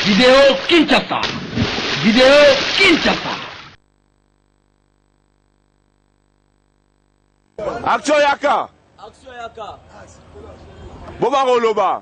Video Kinshasa. Video Kinshasa. Action yaka. Action yaka. Boba koloba.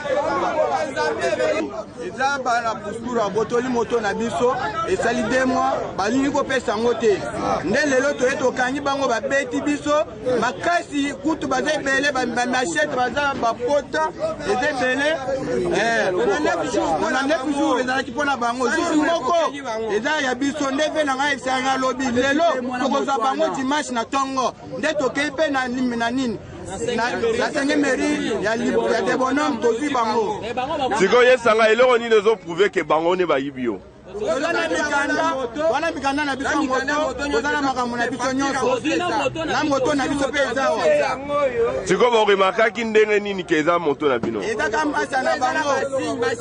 eza bana postura botoli moto na biso esali de mwa balingi kopesa yango te nde lelo toye tokangi bango babeti biso makasi kutu baza ebele bamachete baza bapota eza ebele eh, na 9 jour ezalaki mpo na bango jour moko eza ya biso nde mpe na ngai esangi alobi lelo tokozwa bango dimanche na ntongo nde tokei mpe na nini na sengemeri ya debonome tozwi bango sikoyo yesanga eloko nini ezoprouve ke bango nde bayibi yo toza na mikanda wana mikanda na biso moto toza na makambo na biso nyonso na moto na biso mpe eza wa sikoyo boremarkaki ndenge nini ke eza moto na bino ezaka mbasa na bango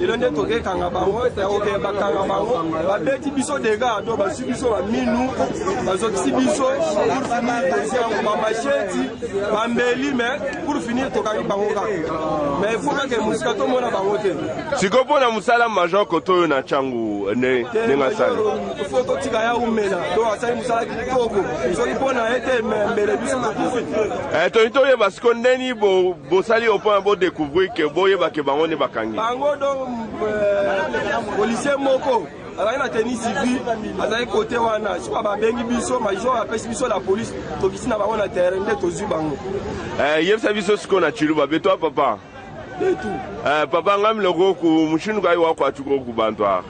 lelo nde toke kanga bango toke bakanga bango babeti biso dega to bazwi biso baminu bazokisi biso pour finir tozi yango bamasheti bambeli me pour finir tokangi bango kaka me ifo kake mosika tomona bango te sikoyo mpo na mosala major koto oyo na ntango ndenge asali fo totika ya umela to asali mosala kitoko soki mpo na ye te mbele biso tokufi eh, toyini toyeba sikoyo ndeni Bosali au point bo découvrir que boyeba que bango nde bakangi. Bango donc euh, policier moko azali na tenue civile azali kote wana sikoyo babengi biso major apesi biso la police tokisi na bango na terrain nde tozwi bango. Eh, yebisa biso sikoyo na Chiluba betwa papa. Betu. Eh, papa ngamile koku mushinuka iwa kwa chuko kubantu ah.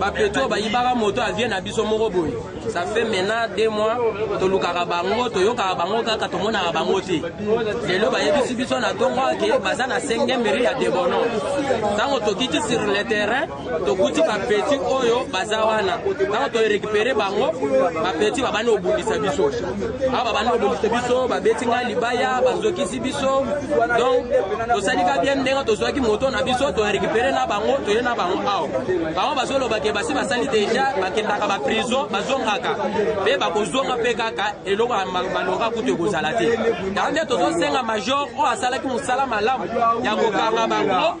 bapeto oyo bayibaka moto avie na biso moko boye ça fait maintenant deux mois tolukaka bango toyokaka bango kaka tomonaka bango te lelo bayebisi biso na ntongo ake baza na sengemeri ya debono ntango tokiti sur le terrain tokuti bapeti oyo baza wana ntango toerekipere bango bapeti babandi kobundisa biso awa babandi kobundisa biso babeti ngai libaya bazokisi biso donc tosalika bien ndenge tozwaki moto na biso torekipere na bango toye na bango awa bango bazoloba ke basi basali deja bakendaka baprison bazongaka mpe bakozonga mpe kaka eloko balonga kutu ekozala te yango nde tozosenga major oyo asalaki mosala malamu ya kokanga bango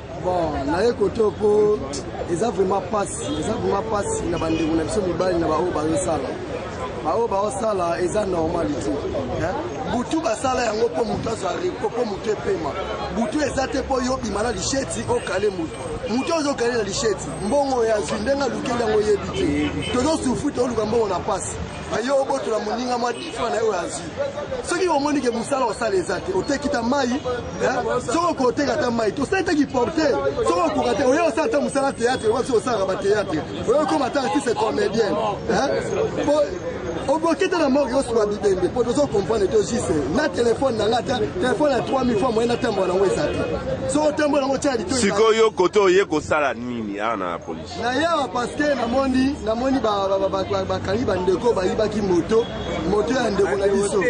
bon naye kote mpo eza vraiment mpasi eza vraiment mpasi na bandeko na biso mibali na baoyo bazosala baoyo baosala eza normal te butu basala yango mpo motu azwa repo mpo motu epema butu eza te mpo yo obima na lisheti okale motu motu ozo okale na lisheti mbongo oyo azwi ndenge alukeli yango oyebi te tozosufri toluka mbongo na mpasi aye obotola moninga mwa difa na ye oyo azwi soki omoni ke mosala osala eza te oteki ta mai soki okoki oteka ta mai te osali te kiporte soki okoka te oye osala ta mosala théâtre okoki soki osalaka bathéâtre oye okoma ta artiste comédien oboki te na moko yoswa bibembe mpo tozo comprendre te juste na telefone na nga ta telefone ya 3000 fois moye natambola nango eza te soki otambola yango otya litosikoyo kote oye kosala nini awa na polisi na yawa paske namoni namoni bakangi bandeko bayibaki moto moto ya ndeko na biso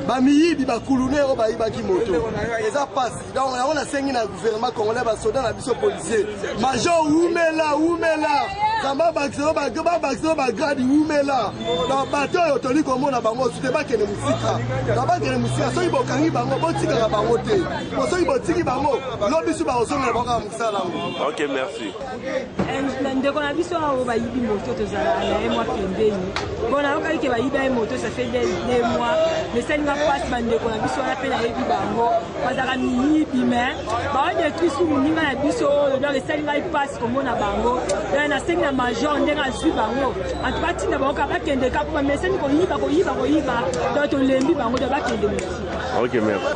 bamiyibi bakulune oyo bayibaki moto eza pasi donc yango nasengi na gouvernement congolais basoda na biso policier major wumela wumela kamba bakiselo babakiselo bagradi wumela donc bato oyo toli komona bango sute bakende mosika na bakende mosika soki bokangi bango botikaka bango te po soki botiki bango lobisu bakosongela bango Ok, merci. Eh, ndeko na biso awo bayibi moto tozala na ye mwa pembeni mpo nayokaki ke bayiba ye moto ça fait de mois mesali nga mpasi bandeko na biso wana mpe nayebi bango bazalaka miyibi me baodetruis ku moninga na biso oyo donc esali ngai mpasi komona bango donc nasengi na major ndenge azwi bango antuka ntina bango kaka bakende kaka mpo bamesani koyiba koyiba koyiba donc tolembi bango donc bakende mosi Ok, merci.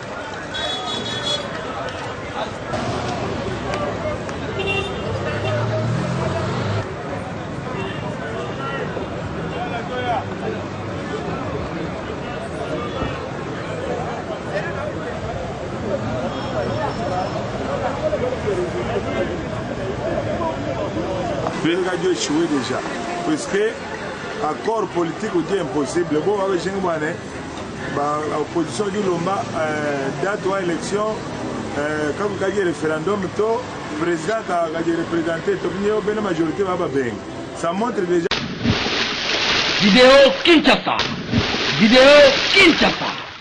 radio échoué déjà parce que accord politique odi impossible bo babejengi bwana ba opposition eki lomba eh, date wa election eh, kaku kaki referendum to president kakaki represente topini yo bene majorité ba babengi ça montre déjà Vidéo Kinshasa. Vidéo Kinshasa.